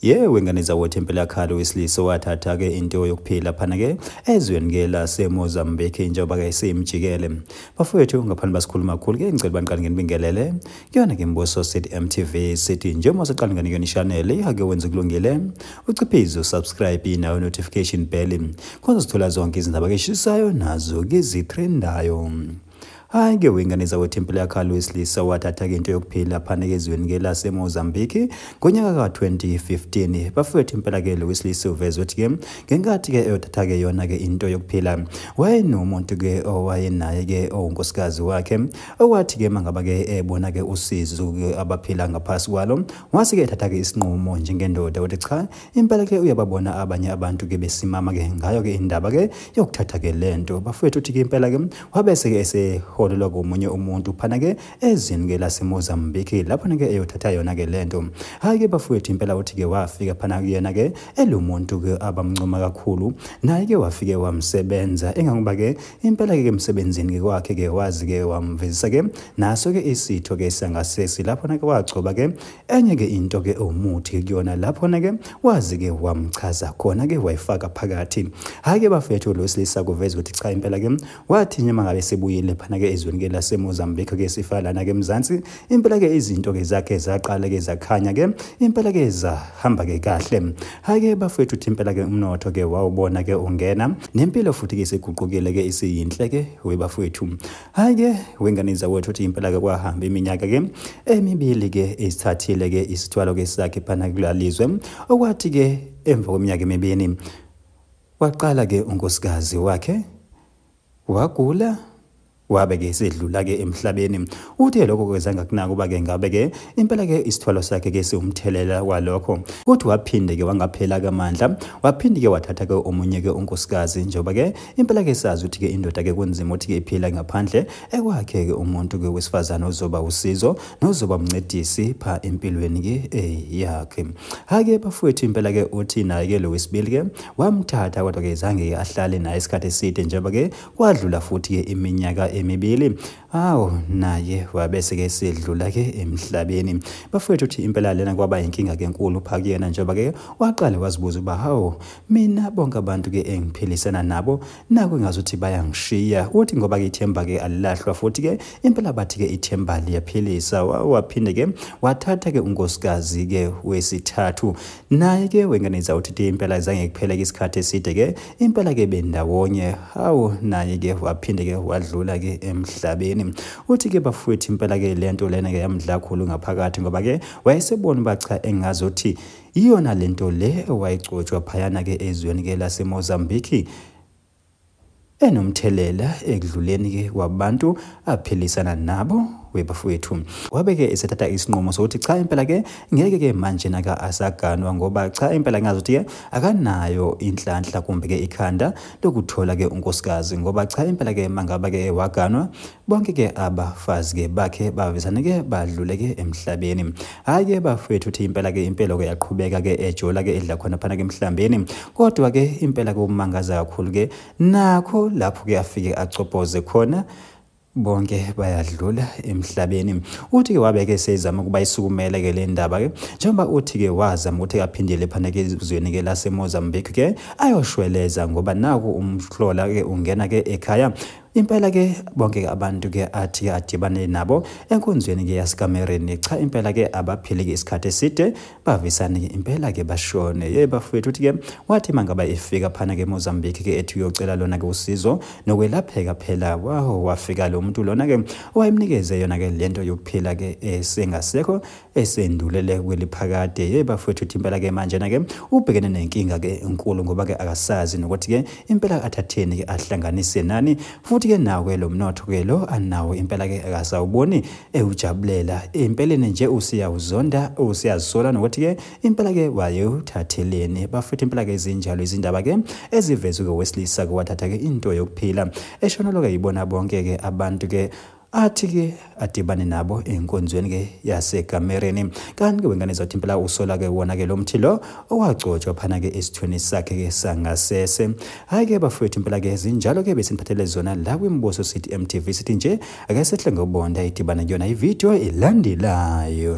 ye wengane zawethu empelakhalo wesilisa owathatha-ke into yokuphila phana-ke ezweni ke lasemozambique njengoba-ke seyimjikele bafowethu ngaphandle basikhuluma kakhulu ke ngicela baniqale nginibingelele kuyona ke mbuso city mtv sithi njengoba siqale ngani kuyona ishanele ihake wenza kulungile uciphize usubscribe nayo notification bell khona sithola zonke izindaba ke shishisayo nazo ke zitrendayo hayi ke wengane zakwethempeli yakhala wesilisa wathatha-ke into yokuphila phaneke ezweni ke lasemozambique ngonyaka ka-2015 bafowethu impela ke lo wesilisa uveze ukuthi ke ngenkathi ke eyothatha-ke yona-ke into yokuphila wayenomuntu ke owayenaye ke owunkosikazi wakhe owathi ke mangaba ke ebona ke usizo abaphila ngaphasi kwalo wase ke ethatha-ke isinqumo njengendoda ukuthi cha impela ke uyababona abanye abantu ke besimama ke ngayo ke indaba ke yokuthatha ke lento bafowethu uthi ke impela ke wabese ke eseholelwa komunye umuntu phana ke ezini ke laseMozambique lapho ke eyothatha yona ke lento hayi ke bafowethu impela uthi ke wafika phana kuyena ke elumuntu ke abamncoma kakhulu naye ke wafike wamsebenza engangoba ke impela ke emsebenzini ke kwakhe ke wazi ke wamvezisa ke naso ke isitho ke sangasesi lapho ke wagcoba ke enye ke into ke ewumuthi kuyona lapho na ke wazi ke wamchaza khona ke wayifaka phakathi hayi ke bafethu lo silisa kuveza ukuthi cha impela ke wathi nje mangabe sebuyile phana ke ezweni ke lase Mozambique ke sifalana ke mzansi impela ke izinto ke zakhe zaqala ke zakhanya ke impela ke zahamba ke kahle hayi ke bafethu uthi impela ke umnotho ke wawubona ke ungena nempilo futhi ke siguqukile ke isiyinhle ke we bafethu hayi ke wengane zawethu uthi impela ke kwahamba iminyaka ke emibili ke isithathile ke isithwalo ke sakhe phana kulalizwe okwathi ke emva kweminyaka emibini waqala ke unkosikazi wakhe wagula wabe ke sedlula ke emhlabeni uthe lokho kwezanga kunaka uba ke ngabe ke impela ke isithwalo sakhe ke siwumthelela walokho kodwa waphinde ke wangaphela kamandla waphinde ke wathatha ke omunye ke unkosikazi njengoba ke impela ke sazi ukuthi ke indoda ke kunzima ukuthi ke iphila ngaphandle ekwakhe ke umuntu ke wesifazane ozoba usizo nozoba umncedisi pha empilweni ke eh yakhe hake bafowethu impela ke uthi naye ke lo wesibili ke wamthatha kodwa ke zange ahlale naye isikhathi eside njengoba ke kwadlula futhi ke iminyaka emibili Awu naye wabese ke sidlula ke emhlabeni. Bafowethu uthi impela lena kwaba inkinga ke enkulu pha kuyena njengoba ke waqale wazibuza uba hawu mina bonke abantu ke engiphilisana nabo naku ngazuthi bayangishiya. Uthi ngoba ke ithemba ke alilahlwa futhi ke impela bathi ke ithemba liyaphilisa. Waphinde ke wathatha ke unkosikazi ke wesithathu. naye ke wengane zawuthi impela zange kuphele-ke isikhathi eside ke impela ke bendawonye hawu naye ke waphinde ke wadlula ke emhlabeni uthi ke bafowethu impela ke le nto lena ke yamdla khulu ngaphakathi ngoba ke wayesebona uba cha engazothi iyona le nto le ewayigcotshwa phayana ke ezweni ke lasemozambiki enomthelela ekudluleni ke kwabantu aphilisana nabo webafowethu wabe ke esethatha isinqumo sokuthi cha impela ke ngeke ke manje naka asaganwa ngoba cha impela ngazothi ke akanayo inhlanhla kumbe ke ikhanda lokuthola ke unkosikazi ngoba cha impela ke mangaba ke waganwa bonke ke abafazi ke bakhe bavezane ke badlule ke emhlabeni hayi ke bafethu uthi impela ke impela ke yaqhubeka ke ejola ke edla khona phana ke emhlambeni kodwa ke impela ke umangaza kakhulu ke nakho lapho ke afike acopoze khona bonke bayadlula emhlabeni uthi ke wabeke sezama ukuba isukumele ke le ndaba ke njengoba uthi ke wazama ukuthi aphindele phana ke ezweni ke laseMozambique ke ayoshweleza ngoba naku umhlola ke ungena ke ekhaya impela ke bonke ke abantu ke athi adibane nabo enkonzweni ke yasikamereni cha impela ke abaphili ke isikhathi eside bavisane ke impela ke bashone ye bafowethu uthi ke wathi mangaba efika phana ke Mozambique ke ethi uyocela lona ke usizo nokwelapheka phela waho wafika lo muntu lona ke owayemnikeze yona ke lento yokuphila ke esengasekho esendulele kweliphakade hey bafowethu uthi impela ke manje na ke ubhekene nenkinga ke enkulu ngoba ke akasazi nokuthi ke impela athatheni ke ahlanganise nani futhi ke nawo ke lo mnotho ke lo anawo impela ke akasawuboni ewujabulela impeleni nje usiyawuzonda usiyazisola nokuthi ke impela ke wayewuthatheleni bafowethu impela ke izinjalo izindaba ke ezivezwe ke wesilisa ke wathatha ke into yokuphila eshonolo ke yibona bonke ke abantu ke athi ke adibane nabo enkonzweni ke yaseGamereni kanti ke wengane zathi impela usola ke wona ke lo mthi lo owagcotshwa phana ke esithweni sakhe ke sangasese hayi ke bafowethu impela ke zinjalo ke besiniphathele zona la kwimbuso sithi MTV sithi nje ake sehle ngobonda idibane kuyona ivideo elandelayo